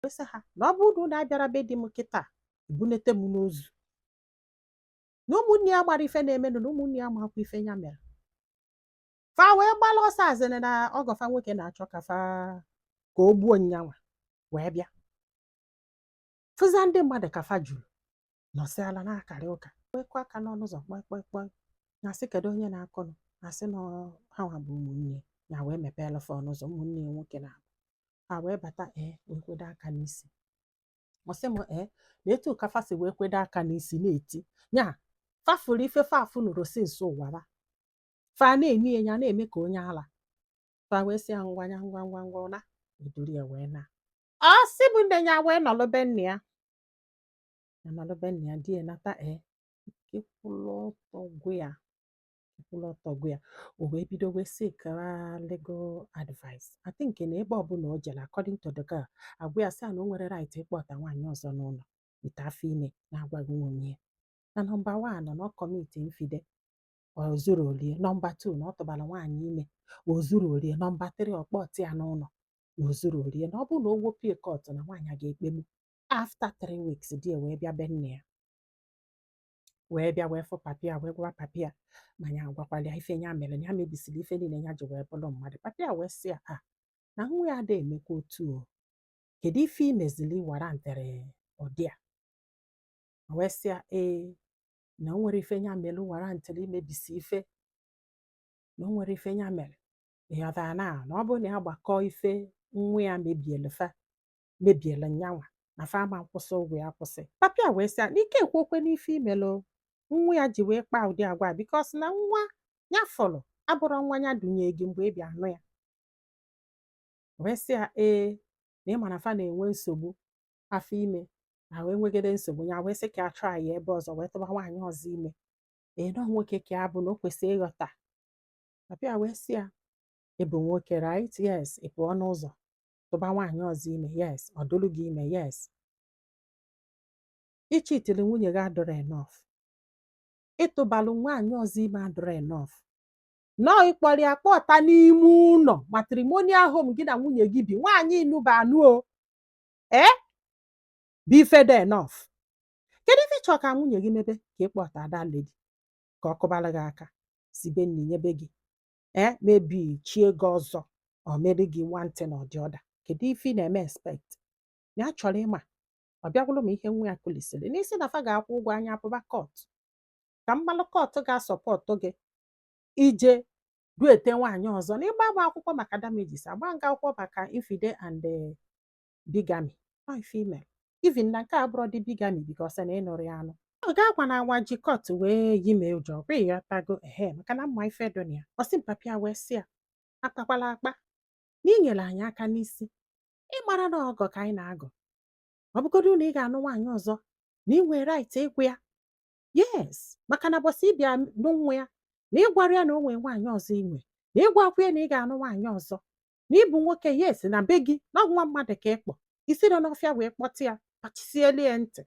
wee sị ha na ọ bụrụ na abịara be di m kịta ebunete m n'ozu na ụmụnne ya mara ife na-emenụ na ụmụnne ya makwa ife ya mere fa wee gbala ọsọ as in na ọgọ fa nwoke na-achọ ka fa ka o gbuo nyanwa wee bịa fụzia ndị mmadụ ka fa juru nọsị ala na-akarị ụka kwekwa aka n'ọnụ ụzọ kpọị kpọị kpọị na-asị kedu onye na-akụnụ asị na ha nwa bụ ụmụnne ya wee mepeelụ fa ọnụ ụzọ ụmụnne ya nwoke naabọ ha wee bata ee wee kwedo aka n'isi ọ sị m ee na etu ka fa si wee kwedo aka n'isi na-eti ya fa fụrụ ife fa afụnurọ since ụwa ba fa na-eme ya ya na-eme ka onye ala fa wee sị ya ngwa ya ngwa ngwa ngwa na eduru ya wee naa ọ sị be nne ya wee nọlụ be nne ya na nalụ be nna ya di ya nata ee ike kwụlụ ọtọ gwụ ya ike kwụlụ ọtọ gwụ ya o wee bido wee seek legal advice I think na ebe ọbụla o jere according to the girl agwa ya sị na o nwerọ right ịkpọta nwaanyị ọzọ n'ụlọ with afọ ime na-agwaghị nwunye ya na number one na ọ commit infide o zuru orie number two na ọ tụbara nwaanyị ime o zuru orie number three ọ kpọta ya n'ụlọ na o zuru orie na ọ bụrụ na o wepụ ya court na nwaanyị a ga-ekpegbu after three weeks di ya wee bịa be nne ya wee bịa wee fụ papa ya wee gwa papa ya ma ya agwakwala ya ife ya mere na ya mebisiri ife niile ya ji wee bụrụ mmadụ papa ya wee sị ya a na nwa ya ada emekwa otu o kedu ife i meziri warrantịrị ụdị a O wee sị ya ee na o nwerọ ife ya mere warrantịrị imebisi ife na o nwerọ ife ya mere ị ghọtara na na ọ bụrụ na ya gbakọọ ife nwa ya mebiele fa mebiela nyanwa na fa ama akwụsị ụgwọ ya kwụsị papa ya wee sị ya na i ka ekwurọkwanụ ife i melụ nwa ya ji wee kpaa ụdị agwa a because na nwa ya fụrụ abụrọ nwa ya dunye gị mgbe ị bịa anụ ya wee sị ya ee na ị ma na fa na-enwe nsogbu afọ ime na wee nwegide nsogbu ya wee sị ka a traa ya ebe ọzọ wee tụba nwaanyị ọzọ ime ee na ọ nwoke ka ya bụ na o kwesịrị ịghọta papa ya wee sị ya ị bụ nwoke right yes ị pụọ n'ụzọ tụba nwaanyị ọzọ ime yes ọ dụrụ gị ime yes ị cheatịrị nwunye gị adịrọ enough ị tụbalụ nwaanyị ọzọ ime adịrọ enough no ị kpọrọ ya kpọta n'ime ụlọ matrimonial home gị na nwunye gị bi nwaanyị ị nụba anụ ọ ya bụ ife dị enough kedu ife ị chọ ka nwunye gị mebe ka ị kpọta other lady ka ọ kụbara gị aka sibe nni nyebe gị eh maybe chie gị ọzọ ọ mere gị one thing or the other kedu ife ị na-eme expect na a chọrọ ịma ọ bịa gụrụ m ihe nwa ya kụrisịrị na ị sị na fa ga-akwụ ụgwọ anyị apụba court ka m malụ court ga-asupport gị ije duete nwaanyị ọzọ na ị gbaa m akwụkwọ maka damages agbaa m gị akwụkwọ maka infide and eh, bigamy by female even na nke a bụrụ dị bigamy because na ị nụrụ ya anụ ọ ga-agwa na awa ji court wee yi mee ụjọ kwa ịghọtago ehe maka na m ma ife dị na ya ọ sị m papa ya wee sị ya akpakwala akpa na i nyere anyị aka n'isi ị mara na ọgọ ka anyị na-agọ ọ bụgodu na ị ga-anụ nwaanyị ọzọ na ị nwere right ịgwa ya yes maka na mbọsị ị bịa ịnụ nwa ya na ị gwara ya na o nwere nwaanyị ọzọ i nwe na ị gwakwa ya na ị ga-anụ nwaanyị ọzọ na ị bụ nwoke yes na be gị na nwa mmadụ ka ị kpọ i sirọ n'ọfịa wee kpọta ya kpachisielu ya ntị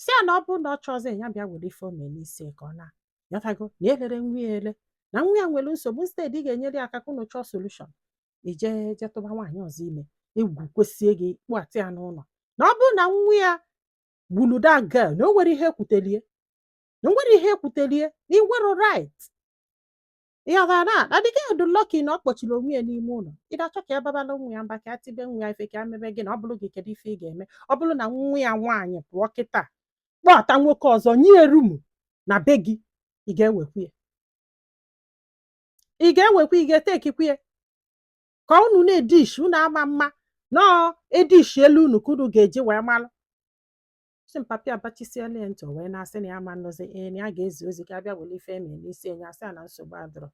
sị ya na ọ bụrụ na ọ chọzi ya bịa were ife o mee n'isi ka ọ na ịghọtago na elerọ nwa ya ele na nwa ya nwere nsogbu instead ị ga-enyere ya aka ka unu chọọ solution i je je tụba nwaanyị ọzọ ime egwu kwesịe gị kpọta ya n'ụlọ na ọ bụrụ na nwa ya gburu that girl na o nwere ihe ekwutelie na o nwere ihe ekwutelie na ị nwerọ right ịghọtara na na the girl dị lucky na ọ kpọchiri onwe ya n'ime ụlọ ị na-achọ ka ya babala nwa ya mba ka ya tibe nwa ya ife ka ya mebe gịnị ọ bụrụ gị kedu ife ị ga-eme ọ bụrụ na nwa ya nwaanyị pụọ kịta kpọta nwoke ọzọ nye ya room na be gị ị ga-ewekwu ya ị ga-ewekwa ị ga-etekikwu ya ka unu na-edishi unu ama ama na ọ edishielu unu ka unu ga-eji wee malụ sị m papa ya abachisiela ya ntị o wee na-asị na ya ama anụzi ee na ya ga-ezi ozi ka a bịa were ife e mee n'isi enye asị ya na nsogbu adịrọ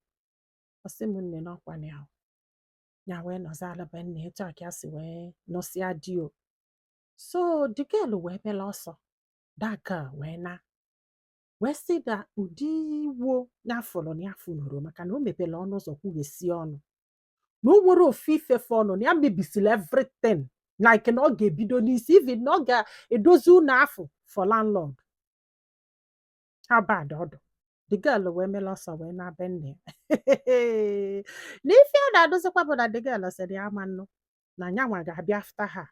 ọ sị m nne n'ọkwa na ya ya wee nọzi alaba nne etu a ka ya si wee nụsịa di o so the girl wee mela ọsọ that girl wee na wee sị na ụdị iwe nya fụrụ na ya afụnurọ maka na o mepere ọnụ ụzọ kwughesi ọnụ na o nwerọ ofu ife fọnụ na ya mebisiri everything like na ọ ga-ebido n'isi even na ọ ga-edozi ụlọ afụ for landlord how bad ọ dụ the girl wee mela ọsọ wee naa be nne ya na ife a na-adọzikwa bụ na the girl sịrị ya ama anụ na nyanwa ga-abịa after ha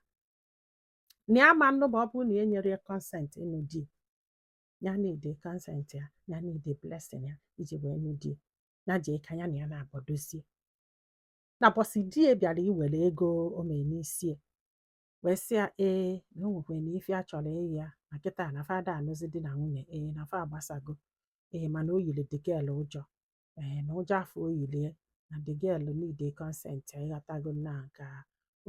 na ya ama anụ ma ọ bụrụ na e nyerọ ya consent ịnụ di ya need consent ya ya need blessing ya iji wee nụ di ya jee ka ya na ya naabọ dozie na mbọsị di ya bịara iwere ego o mee n'isi wee sị ya ee na o nwekwara na ife ya chọrọ ịyọ ya na kịta na fa ada anụzi di na nwunye ee na fa agbasago ee mana o yiri the girl ụjọ ee na ụjọ afụ o yili ya na the girl need consent ịghọtago na ka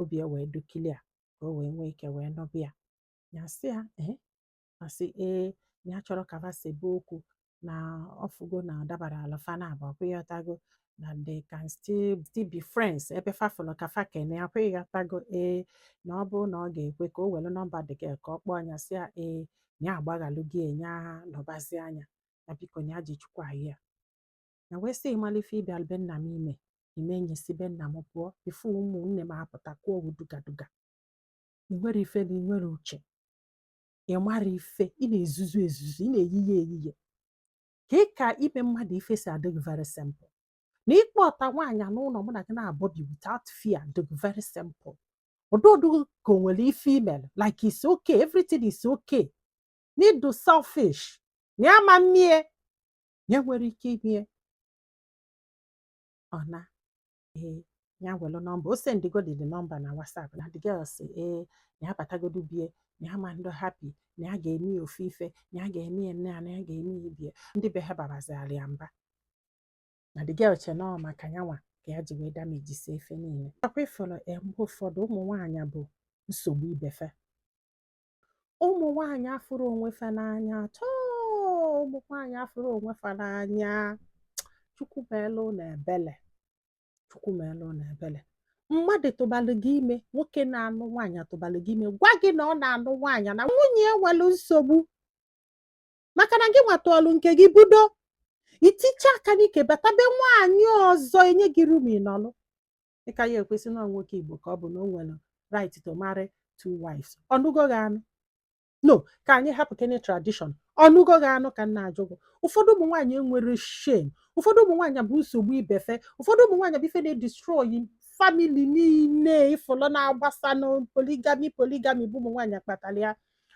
obi ya wee dụ clear ka o wee nwee ike wee nọbịa ya sị ya ee ma sị ee na ya chọrọ ka fa sebe okwu na ọ fụgo na ọ dabara ala fa na abụọ ọkwa ịghọtago na they can still still be friends ebe fa fụrụ ka fa kene ọkwa ịghọtago ee na ọ bụrụ na ọ ga-ekwe ka o were nọmba the girl ka ọ kpọọ anya sị ya ee na ya agbaghalụ gị enye ha nọbazi anya na biko na ya ji chukwu ayọ ya na wee sị ị mala ife ị bịa be nna m ime i mee nya si be nna m pụọ before ụmụnne m apụta kụọ owu dugaduga i nwerọ ifele i nwerọ uche ị marọ ife ị na-ezuzu ezuzu ị na-eyiye eyiye ka ị ka ime mmadụ ife si adị gị very simple na ị kpọta nwaanyị n'ụlọ mụ na gị naabọ bi without fear dị gị very simple ọdụdụ ka o nwerọ ife melụ like it's okay everything is okay na ị dụ selfish na ya ama mmie ya nwere ike imie ọ na ee ya welụ nọmba o sendigodi the nọmba na WhatsApp na the girl sị ee na ya batagodu bie na ya ama ndị happy na ya ga-eme ya ofu ife na ya ga-eme ya nne ya na ya ga-eme ya ibie ndị be ha babazialụ ya mba na the girl che na ọ maka ya nwa ka ya ji wee damejisie ife niile ọkwa ị fụrọ mgbe ụfọdụ ụmụ nwaanyị bụ nsogbu ibe fa ụmụ nwaanyị afụrọ onwe fa n'anya at all ụmụ nwaanyị afụrọ onwe fa n'anya chukwu meelụ unu ebele chukwu meelụ unu ebele mmadụ tụbalụ gị ime nwoke na-anụ nwaanyị tụbalụ gị ime gwa gị na ọ na-anụ nwaanyị na nwunye ya nwelu nsogbu maka na gị nwa tụọlụ nke gị budo i ticha aka n'ike bata be nwaanyị ọzọ e nye gị room ị nọlụ ị ka ya ekwu sị na nwoke igbo ka ọ bụ na o nwere right to marry two wives ọ nụgo gị anụ no ka anyị hapụ kene tradition ọ nụgo gị anụ ka m na-ajụ gị ụfọdụ ụmụ nwaanyị enwerọ shame ụfọdụ ụmụ nwaanyị bụ nsogbu ibefe ụfọdụ ụmụ nwaanyị bụ ife na-edestroy family niile ị fụlụ na-agbasa na polygamy polygamy bụ ụmụ nwaanyị kpatara ya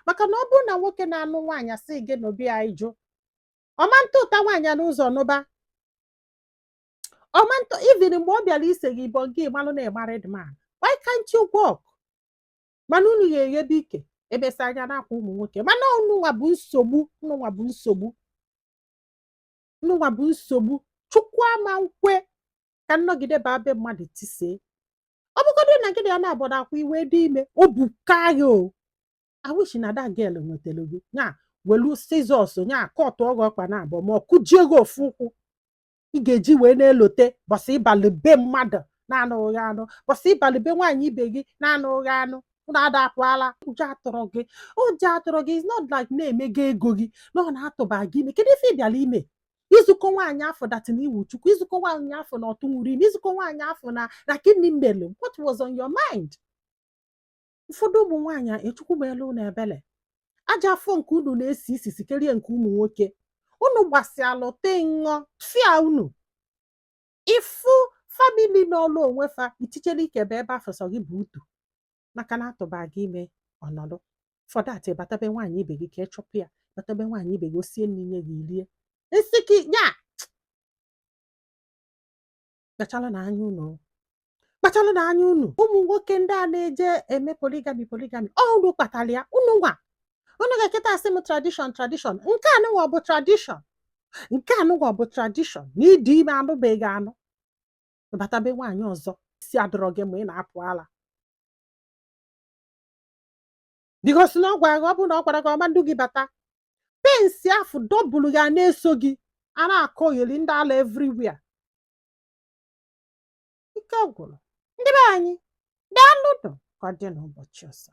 maka na ọ bụrụ na nwoke na-anụ nwaanyị sị gị nụba ya ị jụ ọ ma ntụta nwaanyị n'ụzọ nụba ọ ma ntụ even mgbe ọ bịara ise gị ibọ gị malụ na married man why can't you walk mana unu ga-eghebe ike ebesa anya n'akwa ụmụ nwoke mana ụnụnwa bụ nsogbu ụnụnwa bụ nsogbu ụnụnwa bụ nsogbu chukwu ama nkwe ka m nọgide baa be mmadụ tisee ọ bụgodị na gị na ya naabọ n'akwa i wee dị ime o buka ya o I wish na that girl nwetara gị nya welu scissors nya kọtụọ gị ọkpa na abụọ ma ọ kụjie gị ofu ụkwụ ị ga-eji wee na-elote ụbọsị ị balụ be mmadụ na-anụ gị anụ ụbọsị ị balụ be nwaanyị ibe gị na-anụ gị anụ unu ada apụ ala ụjọ atụrọ gị ụjọ atụrọ gị is not like na e mego ego gị na ọ na-atụba gị ime kedu ife ị bịara ime izukọ nwaanyị afọ datin iwu chukwu izukọ nwaanyị afọ na ọ tụnwurọ ime izukọ nwaanyị afọ na gịnị melu what was on your mind ụfọdụ ụmụ nwaanyị a chukwu meelụ unu ebele ajọ afọ nke unu na-esi isi sikerie nke ụmụ nwoke unu gbasialụ tinye ọfịa unu ịfụ famili nọọlụ onwe fa i tichela ikebe ebe afụ sọ gị bụ utu maka na a tụba gị ime ọ nọdụ fọdụ ị bata be nwaanyị ibe gị ka ị chụpụ ya bata be nwaanyị ibe gị o sie nri nye gị i rie nsị gị ya kpachalụnụ anya unu kpachalụnụ anya unu ụmụ nwoke ndị a na-eje eme poligami poligami ọ unu kpatalụ ya unu nwa unu ga-eketa asị m tradishọn tradishọn nke anụnwa ọ bụ tradishọn nke anụnwa ọ bụ tradishọn na ị dị ime anụbeghị anụ bata be nwaanyị ọzọ isi adịrọ gị mma ị na-apụ ala bikos na ọ gwara gị ọ bụrụ na ọ gwara gị ọma ndu gị bata pensi afụ dọbụlụ ya na-eso gị a na-akọyeli ndị ala evriwia ike gwụrụ ndị be anyị daalụ nụ ka ọ dị n'ụbọchị ọzọ